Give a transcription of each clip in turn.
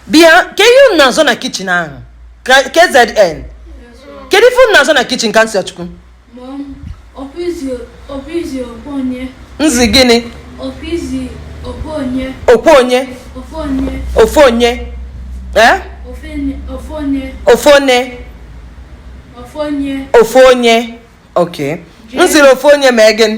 bịa kee ihe unu na-azọ na kitchen ahụ Ka- kzn kedu ife unu na-azọ na kitchen Kamsiyochukwu Mom, ọkpụizi ọkpụizi ọkpụ onye nzi gịnị ọkpụizi ọkpụ onye okwe onye ọkpụ onye ofe onye ee ofe ne- ofu onye ofe one ofu onye ofu onye ok nziri ofu onye mee gịnị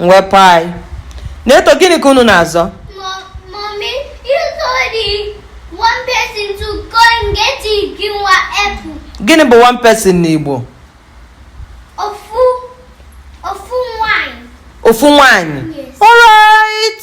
mwepụ anyị Neto gịnị ka unu na-azọ gịnị bụ one person n'Igbo ofu nwanyị alright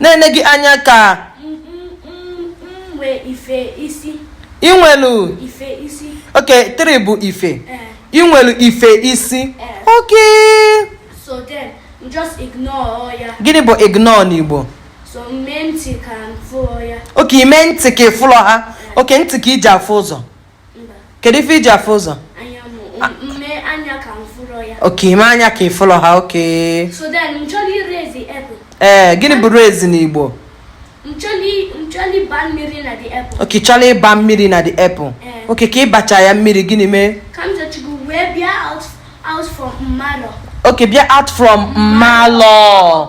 na-ene gị anya ka inwelu okay three bụ ife eh. inwelu ife isi eh. okay gịnị bụ ignore n'Igbo okay ime ntị ka ịfụlọ ha okay ntị ka iji afụ ụzọ kedu ife iji afụ ụzọ okay ime anya ka ịfụlọ ha okay ee gịnị bụ rinse n'igbo okay chọrọ ịba mmiri na the apple okay ka ịbacha ya mmiri gịnị mee okay bịa out from mmalọ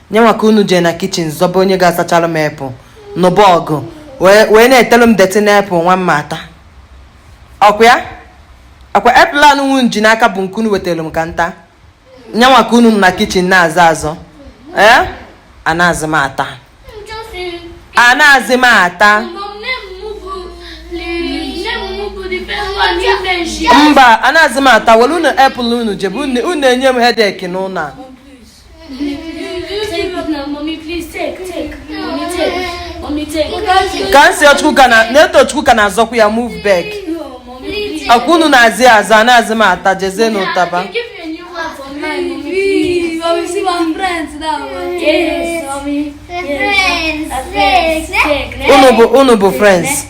nya nwa ka unu jee na kitchen zọba onye ga-asachara m apple nụba ọgụ wee na-etelu m dirty na apple nwa mma ata ọkwa ya ọkwa apple anụnwa nji n'aka bụ nke unu wetelu m ka nta nya nwa ka unu na kitchen na-azọ azọ ee eh? anazị m ata anazị m ata mba anazị m ata welu unu apple unu jebe unu enye m headache n'ụlọ a Kamsiyochukwu ka Netochukwu ka na-azọkwu ya move back ọkwa unu na-azọ azọ anazị m ata jezienụ taba unu bụ friends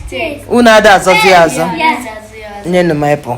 unu ada azọzi azọ nyenụ m apple